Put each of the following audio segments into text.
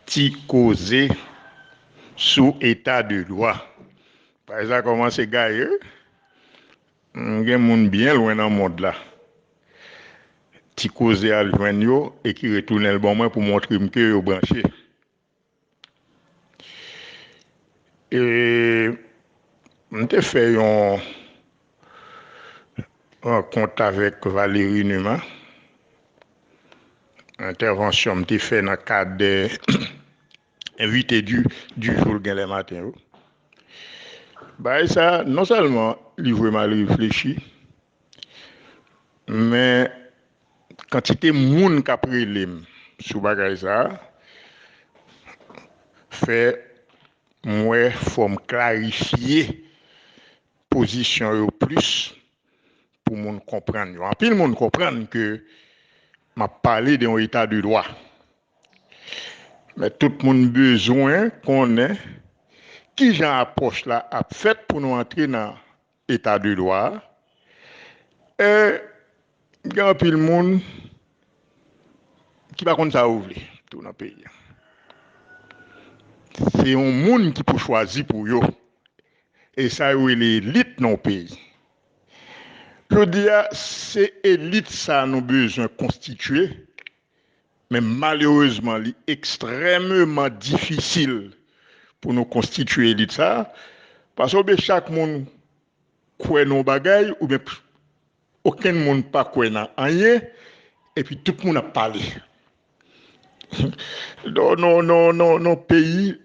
Ti koze sou eta de dwa. Paj la kòmanse gaye wi. Gen moun byen lwen nan mond la. Ti koze al jwenn yo e ki retounen l ban mwen pou montre m ke yo branche. E m te fè yon rankont avèk Valéry Numa. Entèvansyon m te fè nan kad envite di jou l genlè maten yo. Bagay sa non sèlman li vreman reflechi. Men kantite moun kap relem sou bagay sa fè m wè fòm klarifye pozisyon yo plis pou moun konprann yo. Anpil moun konprann ke map pale de yon eta de dwa. Men tout moun bezwen konnen kijan apwòch la ap fèt pou nou antre nan Eta de dwa a, e gen anpil moun ki pa konn sa yo vle tou nan peyi a. Se yon moun ki pou chwazi pou yo, e sa yo rele elit nan yon peyi. Jodi a, se elit sa a nou bezwen konstitye Men malerezman li ekstrèmeman difisil pou nou konstitye elit sa a, pase oubyen chak moun kwè nan yon bagay oubyen okenn moun pa kwè nan anyen epi tout moun ap pale. Non, non, non, non, non peyi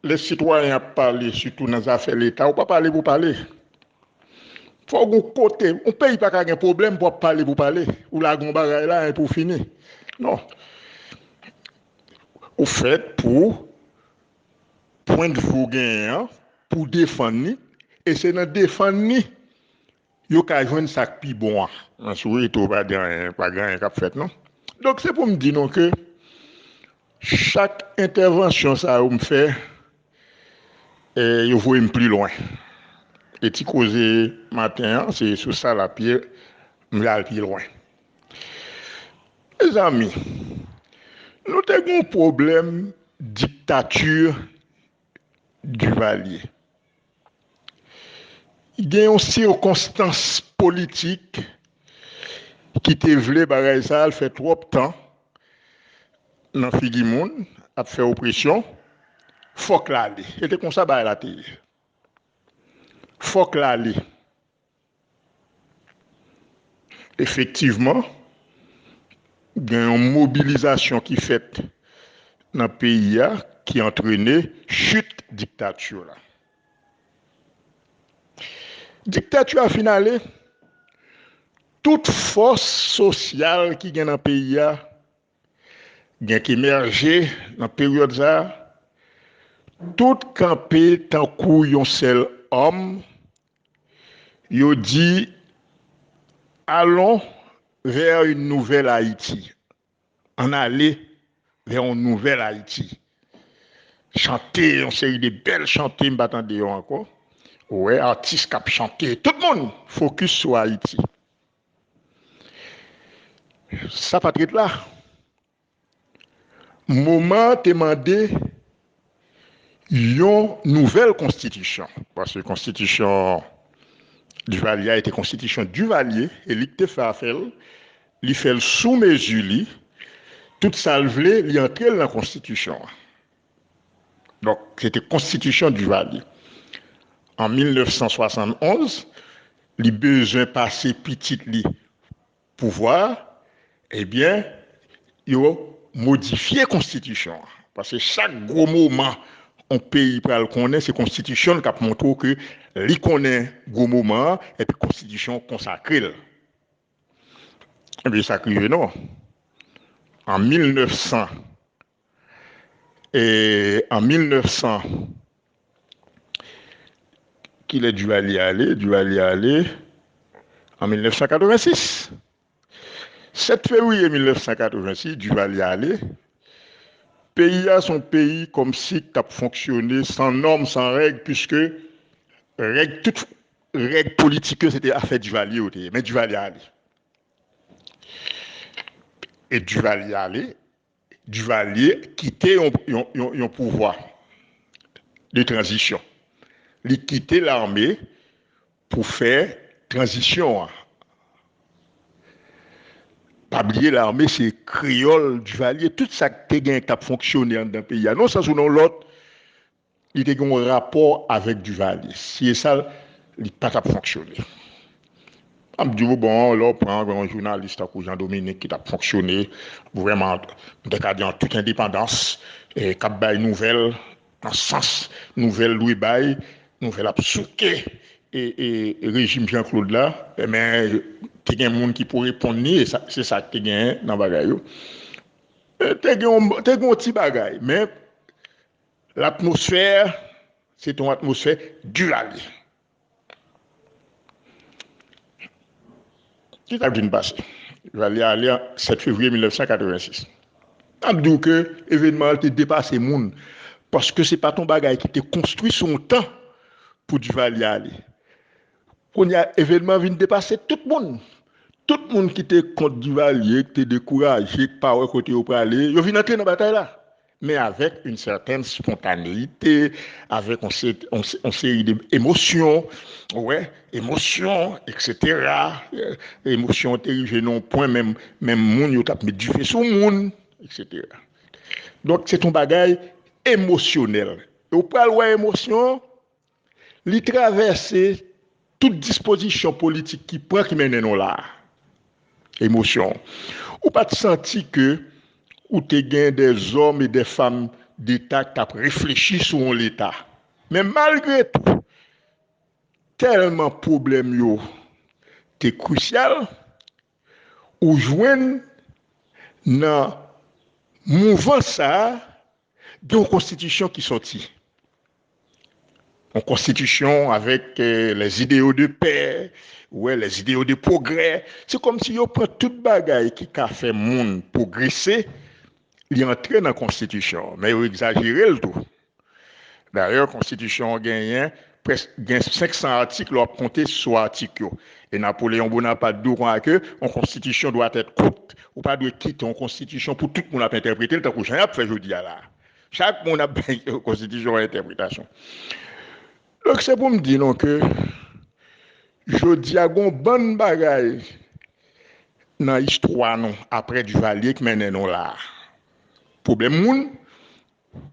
Lè sitwayen ap pale sitou nan zafè leta ou pa pale pou pale. Fòk gon kote, yon peyi pa ka gen pwoblèm pou ap pale pou pale. Ou lage yon bagay la epi ou fini. Non. Ou fèt pou pwendvi ou genyen an pou w defann li e se nan defann li Yo ka jwenn sa k pi bon an. Mwen sou retro pa di anyen, pa gen anyen k ap fèt non. Donk se pou m di nou ke chak entèvansyon sa yo m fè, yo voye m pli lwen. E ti koze maten an, se sou sa l ap ye, m vle al pi lwen. Mezanmi, nou te gen yon pwoblèm diktati Duvalier. Gen yon sikonstans politik ki te vle bagay sa al fè twòp tan nan figi moun ap fè opresyon, fòk l ale. Se te konsa bagay la te ye. Fòk l ale. Efektivman, gen yon mobilizasyon ki fèt nan peyi a ki antrene chit diktati la. Diktati a fin ale, tout fòs sosyal ki gen nan peyi a gen k emèje nan peryòd sa a, tout kanpe tankou yon sèl òm Yo di, Allons vers une nouvelle Haïti, Ann ale vè yon nouvèl Ayiti. Chante yon seri de bèl chante, m pa tande yo ankò. Ou wè atis k ap chante, tout moun fokis sou Ayiti. Sa pa t ret la. Moman an te mande yon nouvèl konstitisyon, paske konstitisyon Divalye a te konstitisyon Divalye e li k te fè afè l, li fè l sou mezi li, tout sa l vle li antre l nan konstitisyon an. Donk se te konstitisyon Divalye. An 1971, li bezwen pase pitit li pouvwa a, ebyen yo modifye konstitisyon an. Paske chak gwo moman yon peyi pral konnen se konstitisyon l k ap montre w ke li konnen gwo moman an epi konstitisyon an konsakre l. Ebyen sa k rive non an 1900 e an 1900 kilè Duvalier ale Duvalier ale an 1986 7 fevrier 1986 Duvalier ale peyi a son peyi kòmsi k tap fonksyone san nòm san règ piske règ tout règ politik yo se te afè Duvalier yo te ye men Duvalier ale e Duvalier ale Duvalier kite yon pouvwa de tranzisyon. Li kite lame pou fè tranzisyon an. Pa bliye lame se kreyòl Duvalier. Tout sa k te gen k t ap fonksyone anndan peyi a, nan yon sans ou nan yon lòt, Li te gen yon rapò avèk Duvalier. Si e sa, li pa t ap fonksyone. M ap di ou, bon, lè w pran yon jounalis tankou Jean Dominique ki t ap fonksyone vrèman, m te ka di an tout endepandans, k ap bay nouvèl nan sans nouvèl dwe bay, nouvèl ap souke rejim Jean Claude la, men te gen moun ki pou reponn li, e se sa ki te genyen nan bagay yo. Te gen yon ti bagay, men Latmosfè se te yon atmosfè Duvalier. Ki sa k vin pase? Duvalier ale an 7 fevriye 1986. N ap di w ke evenman an te depase moun, paske se pa t yon bagay ki te konstwi sou yon tan pou Duvalier ale. Kounye a, evenman an vin depase tout moun. Tout moun ki te kont Duvalier, ki te dekouraje, ki pa wè kote yo prale, yo vin antre nan batay la. men avèk yn sètèn spontaneite, avèk yon seri de emosyon, ou wè, emosyon, eksetera, emosyon yo te rive nan yon pwen menm, menm moun yo t ap met dife sou moun, eksetera. Donk se t yon bagay emosyonèl. E w pral wè emosyon, Li travèse tout dispozisyon politik ki pran ki mennen nou la a. Emosyon. Ou pa t santi ke ou te gen de zòm e de fam deta k t ap reflechi sou yon leta. Men malgre tou, tèlman pwoblèm yo te krisyal, Ou jwenn nan mouvans sa a gen yon konstitisyon ki sòti. Yon konstitisyon avèk les idéaux de paix, ou wè les idéaux de progrès. Se kòmsi yo pran tout bagay ki ka fè moun pwogrese, li antre nan konstitisyon an. Men yo egzajere l tou. Dayè konstitisyon an genyen prèsk gen 500 atik lè w ap konte sou atik yo. E Napoleon Bonaparte di w konsa ke yon konstitisyon doit être courte. Ou pa dwe kite yon konstitisyon pou tout moun ap entèprete l tankou jan y ap fè jodi a la a. Chak moun ap bay konstitisyon an entèpretasyon. Donk se pou m di nou ke jodi a gen yon bann bagay nan istwa nou aprè Duvalier k mennen nou la a. Pwoblèm moun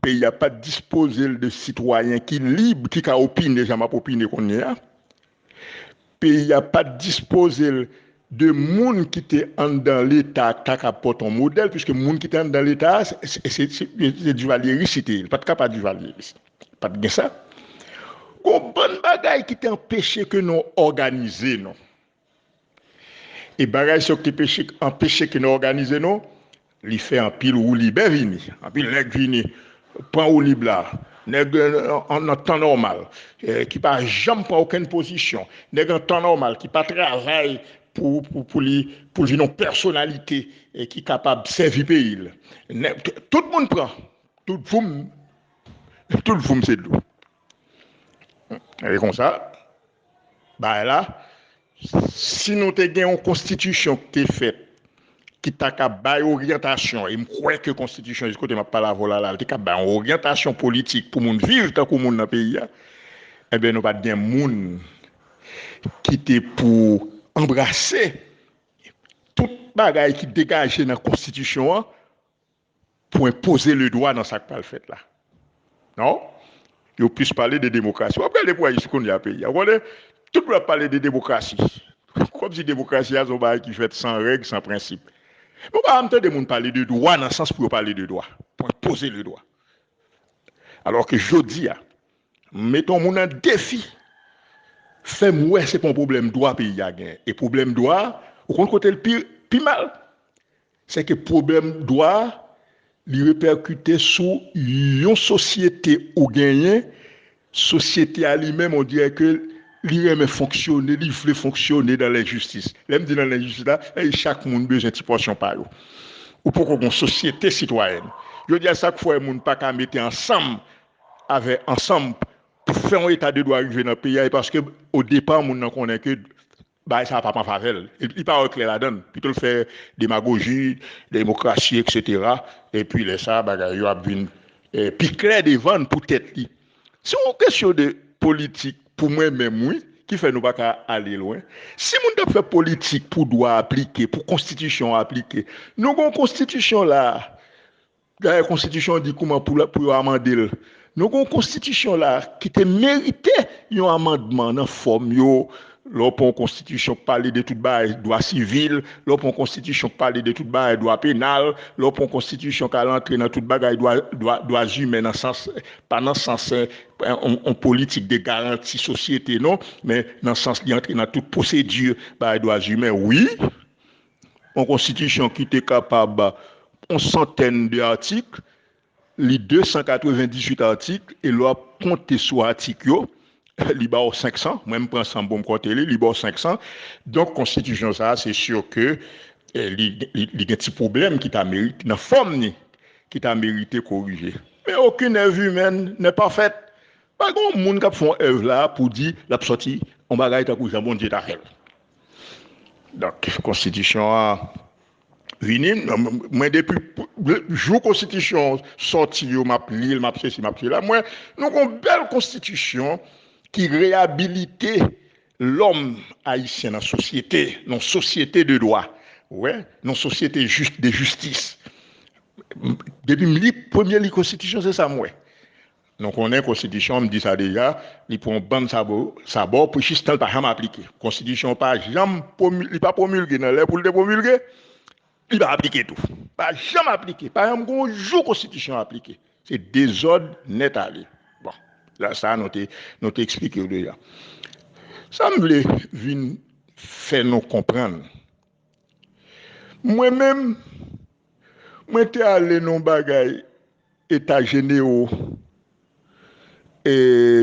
Peyi a pa t dispoze l de sitwayen ki lib, ki ka opine jan m ap opine kounye a. Peyi a pa t dispoze l de moun ki te anndan Leta a k ta kab pote yon modèl, piske moun ki te anndan Leta a, se divalyeris li te ye, li pa t ka pa divalyeris. Pa t gen sa. Gon bann bagay ki te anpeche ke nou òganize nou. E bagay sa yo ki peche ki anpeche ke nou òganize nou, li fè anpil woulibè vini, anpil nèg vini pran woulib la, nèg nan tan nòmal ki pa janm pran okenn pozisyon, nèg an tan nòmal ki pa travay pou li pou l vin yon pèsonalite ki kapab sèvi peyi l. Tout moun pran, tout voum, tout voum se dlo. E konsa. Bagay la, si nou te gen yon konstitisyon ki te fèt, ki ta ka bay oryantasyon, e m kwè ke konstitisyon jis kote m ap pale avè w la la, li te ka bay yon oryantasyon politik pou moun viv tankou moun nan peyi a, enben nou pa t gen moun ki te pou anbrase tout bagay ki degaje nan konstitisyon an, pwen poze le dwa nan sa k pral fèt la. Non. Yo plis pale de demokrasi. W ap gade pou Ayiti kounye a peyi a. Ou konnen, tout moun ap pale de demokrasi. Kòmsi demokrasi a se yon bagay ki fèt san règ, san prensip. Mwen pa janm tande moun pale de dwa nan sans pou yo pale de dwa. Pwen poze le dwa. Alò ke jodi a, m mete yon moun an defi, fè m wè se pa yon pwoblèm dwa peyi a genyen. E pwoblèm dwa a, ou konn kote l pi mal? Se ke pwoblèm dwa, li repèkite sou yon sosyete ou genyen, sosyete a li menm on dirè ke li renmen fonksyone, li vle fonksyone dan lenjistis. Lè m di dan lenjistis la, sa vle di chak moun bezwen ti pòsyon pa yo. Ou poko gen yon sosyete sitwayèn. Jodi a sa k fè moun pa ka mete ansanm avè ansanm pou fè yon eta de dwa rive nan peyi a e paske o depa moun nan konnen ke Bagay sa a pa pran favè l. Li pa wè klè ladan l. Pito l fè demagoji, demokrasi eksetera, epi lè sa a bagay yo ap vin pi klè devan l pou tèt li. Se yon kesyon de politik pou mwen menm wi ki fè nou pa ka ale lwen. Si moun t ap fè politik pou dwa aplike, pou konstitisyon an aplike. Nou gen yon konstitisyon la a Dayè konstitisyon an di kouman pou yo amande l. Nou gen yon konstitisyon la ki te merite yon amandman nan fòm yo. Lè w pran yon konstitisyon k pale de tout bagay dwa sivil, lè w pran yon konstitisyon k pale de tout bagay dwa penal, lè w pran yon konstitisyon k al antre nan tout bagay dwa zimen nan sans, pa nan sans yon politik de garanti sosyete non, men nan sans li antre nan tout pwosedi bagay dwa zimen wi. yon konstitisyon ki te kapab yon santèn de atik, li 298 atik e lè w ap konte sou atik yo, li ba w 500, mwen m pran 100 pou m konte li, li ba w 500. Donk konstitisyon sa a se sur ke li gen ti pwoblèm ki ta merite, nan fòm ni, ki ta merite korije. Men okenn èv imèn nè pafèt. Pa gen yon moun k ap fè yon èv la pou di l ap sòti yon bagay tankou jan Bondye ta fè l. Donk konstitisyon an vini, mwen depi jou konstitisyon sòti yo map li l, map se si, map se la, mwen nou gon bèl konstitisyon ki reyabilite lòm ayisyen nan sosyete, nan sosyete de dwa, ou wè, nan sosyete de jistis. Depi m li, premye li konstitisyon se sa m wè. Nou konnen konstitisyon an, m di sa deja, li pran yon bann sabo, sabò pou jistan l pa janm aplike. Konstitisyon an pa janm pwomi, li pa pwomilge nan lè pou l te pwomilge, li pa aplike tou. Pa janm aplike, pa janm gen yon jou konstitisyon an aplike. Se dezòd nèt ale. Bon, la sa nou te, nou te eksplike w deja. Sa m vle vin fè nou konprann, mwen menm, mwen te ale nan yon bagay, Eta jenewo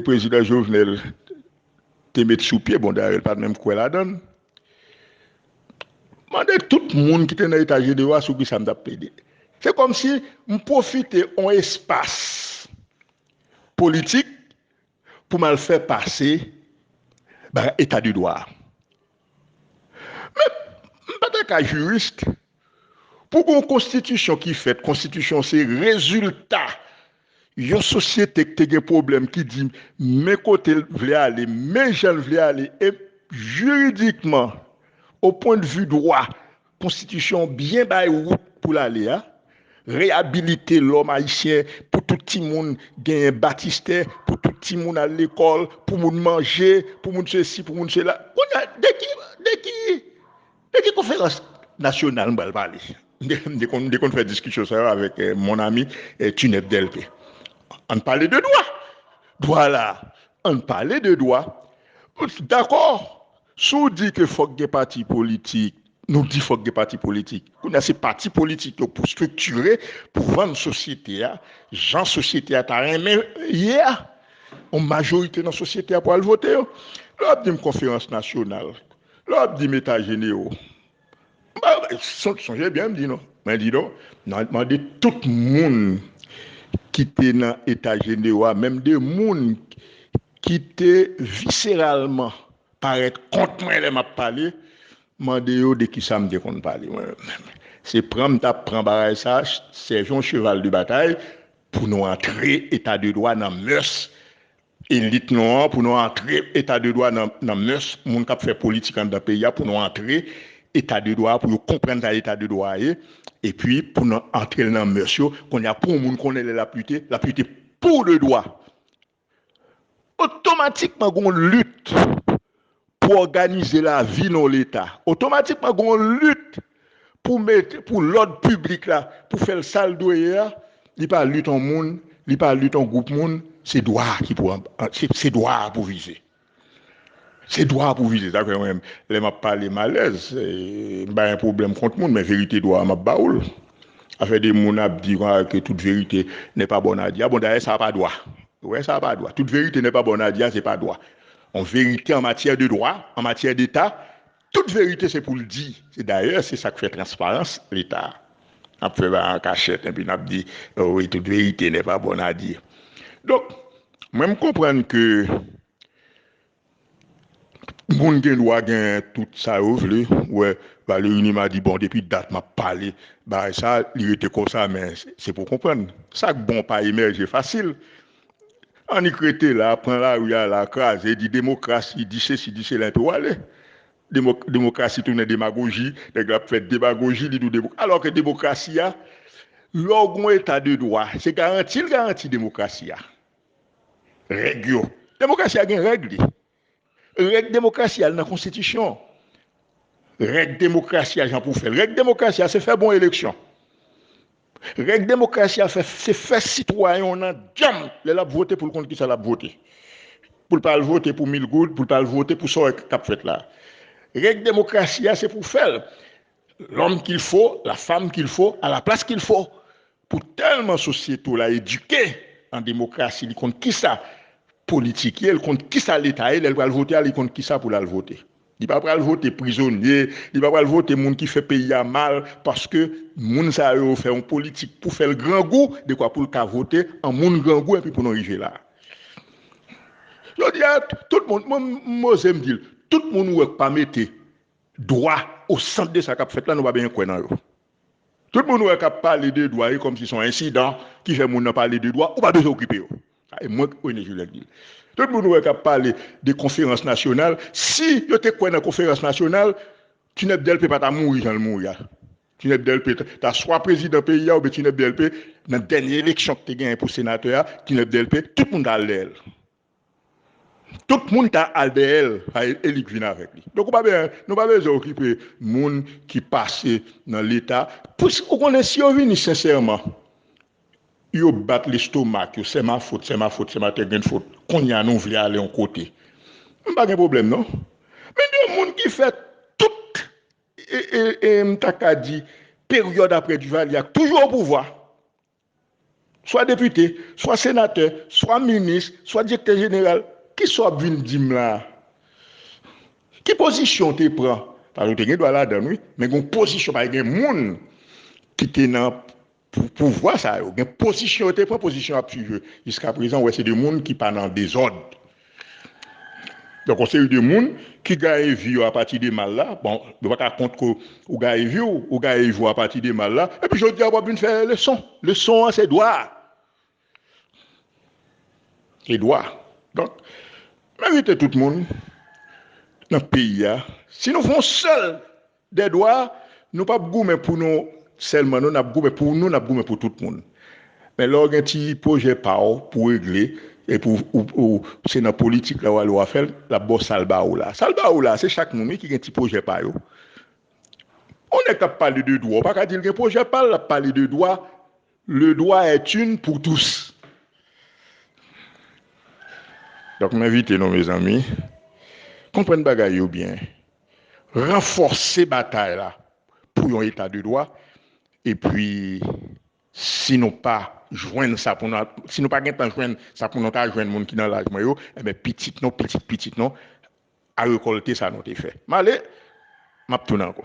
prezidan Jovenel te met sou pye, bon dayè li pat menm kwè ladann. Mande tout moun ki te nan eta jenewo a sou kisa m tap plede. Se kòmsi m pwofite yon espas politik pou m al fè pase bagay eta de dwa a. Men m pa ta ka jurist Pou gon konstitisyon ki fèt, konstitisyon se rezilta yon sosyete k te gen pwoblèm ki di men kote l vle ale, men jan l vle ale e jiridikman o pwen de vi dwa konstitisyon an byen bay wout pou l ale a, reyabilite lòm ayisyen pou tout timoun genyen batistè, pou tout timoun al lekòl, pou moun manje, pou moun sesi, pou moun sela. Kounye a de ki, de ki? E ki konferans nasyonal m pral pale? M te konn fè diskisyon sa yo avèk mon ami Tunnette Delpé. An n pale de dwa! Dwa la a! An n pale de dwa! Dakò, si w di ke fòk gen pati politik, nou di fòk gen pati politik. Kounye a se pati politik yo pou striktire, pou vann sosyete a, jan sosyete a ta renmen ye a. Yon majorite nan sosyete a pou al vote yo. Lè w ap di m konferans nasyonal, Lè wap di meta jenero sonje byen m di nou mwen di nou nan mande tout moun ki te nan eta jenero a menm de moun ki te viseralman parèt kont mwen lè map pale mande yo de kisa m te konn pale mwen menm se pran m tap pran bagay sa sèvi yon cheval de batay pou nou antre eta de dwa nan mès Elit nou an pou nou antre eta de dwa nan mès moun kap fè politik anndan peyi a pou nou antre eta de dwa pou yo konprann sa eta de dwa ye epi pou nou antrel nan mès yo konnya pou yon moun konnen lè lap lite lap lite pou de dwa otomatikman gon lit pou òganize lavi nan yon leta, otomatikman gen yon lit pou mete, pou lòd piblik la, pou fè l sa l dwe ye a, li pa lit yon moun, li pa lit yon gwoup moun, se dwa a ki pou, se dwa a pou vize. Se dwa a pou vize. Sa fè mwen menm, lè m ap pale m alèz, m pa gen pwoblèm kont moun, men verite dwa a m ap ba ou l. Afè de moun ap di konsa ke tout verite nè pa bòn a di a, bon dayè sa pa dwa. Ou wè sa pa dwa. Tout verite nè pa bòn a di a se pa dwa. On verite an matyè de dwa, an matyè deta, tout verite se pou l di. Se dayè se sa k fè transparans leta ap fè bagay an kachèt enpi n ap di wi tout verite nè pa bòn a di. Donk mwen m konprann ke moun gen dwa gen tout sa yo vle ou wè Valery Numa di bon depi dat m ap pale bagay sa li rete konsa men se pou w konprann sa k bon pa emèje fasil. Annik rete la, pran lari a la, kraze, di demokrasi, di sesi, di sela epi w ale. Demokrasi tounen demagoji, nèg la ap fè demagoji, li di w demokrasi. Alò ke demokrasi a, lè w gen yon eta de dwa, se garanti l garanti demokrasi a. Règ yo. Demokrasi a gen règ li. Règ demokrasi a al nan konstitisyon. Règ demokrasi a jan pou fèl. Règ demokrasi a se fè bon eleksyon. Règ demokrasi a se fè sitwayen w nan djanm lè l ap vote pou l konn kisa l ap vote. Pou l pa al vote pou mil goud, pou l pa al vote pou sa w wè k ap fèt la. Règ demokrasi a se pou fè l. Lòm kil fo, la fam kil fo, a la plas kil fo. Pou tèlman sosyete w la edike an demokrasi li konn kisa politik ye, li konn kisa leta ye lè l pral vote a li konn kisa pou l al vote. Li pa pral vote prizonye, li pa pral vote moun ki fè peyi a mal paske moun sa yo fè yon politik pou fè l grangou dekwa pou l ka vote an moun grangou enpi pou nou rive la. Jodi a tout moun, mwen m oze m di l, tout moun ou wè k pa mete Dwa o sant de sa k ap fèt la, nou pa benyen kwè nan yo. Tout moun ou wè k ap pale de dwa e kòmsi se yon ensidan ki fè moun nan pale de dwa, ou pa bezwen okipe yo. Sa e mwen René Julien k di l. Tout moun ou wè k ap pale de konferans nasyonal, si yo te kwè nan konferans nasyonal, Tinèb Dèlpe pa ta mouri jan l mouri a. Tinèb Dèlpe ta swa prezidan peyi a oubyen Tinèb Dèlpe nan dènye eleksyon ki te genyen pou senatè a, Tinèb Dèlpe, tout moun ta al dèyè l. Tout moun ka al dèyè l e li k vin avèk li. Donk ou pa bezwen, nou pa bezwen okipe moun ki pase nan leta. Pwiske ou konnen si yo vini sensèman, yo bat lestomak yo, sè ma fot, sè ma fot, sè ma tè grenn fot, kounye a nou vle ale yon kote. M pa gen pwoblèm non. Men de moun ki fè tout e e e m ta ka di peryòd aprè Duvalier a k toujou opouvwa. swa depite, swa senatè, swa minis, swa direktè jeneral, ki sa w ap vin di m la a? Ki pozisyon w te pran? Paske w te gen dwa ladan l wi, men gen yon pozisyon, paske gen moun ki te nan pouvwa sa yo, gen pozisyon yo te pran, pozisyon yo ap suiv yo jiskaprezan, w wè se de moun ki pa nan dezòd. Donk yon seri de moun ki gaye vi yo apati de mal la, bon yo pa ka kont ke ou gaye vi w, ou gaye vi w apati de mal la, epi jodi a wap vin fè leson, leson an se dwa, se dwa. Donk m envite tout moun nan peyi a, si nou fè yon sèl Dè dwa, nou pap goumen pou nou sèlman non, nap goumen pou nou, nap goumen pou tout moun. Men lè w gen ti pwojè pa w pou regle, epi w se nan politik la w ale w a fè l, l ap ba w sa l ba ou la. Sa l ba ou la, se chak moun wi ki gen ti pwojè pa yo. Yon nèg k ap pale de dwa, w pa ka di l gen pwojè pa l, l ap pale de dwa. Le droit est une pour tous. Donk m envite nou mezanmi, konprann bagay yo byen, ranfòse batay la pou yon eta de dwa epi si nou pa jwenn sa pou nou, si nou pa gen tan jwenn sa pou nou ta jwenn moun ki nan laj mwen yo, enben pitit nou, pitit pitit nou a rekòlte sa nou te fè. M ale, m ap tounen ankò.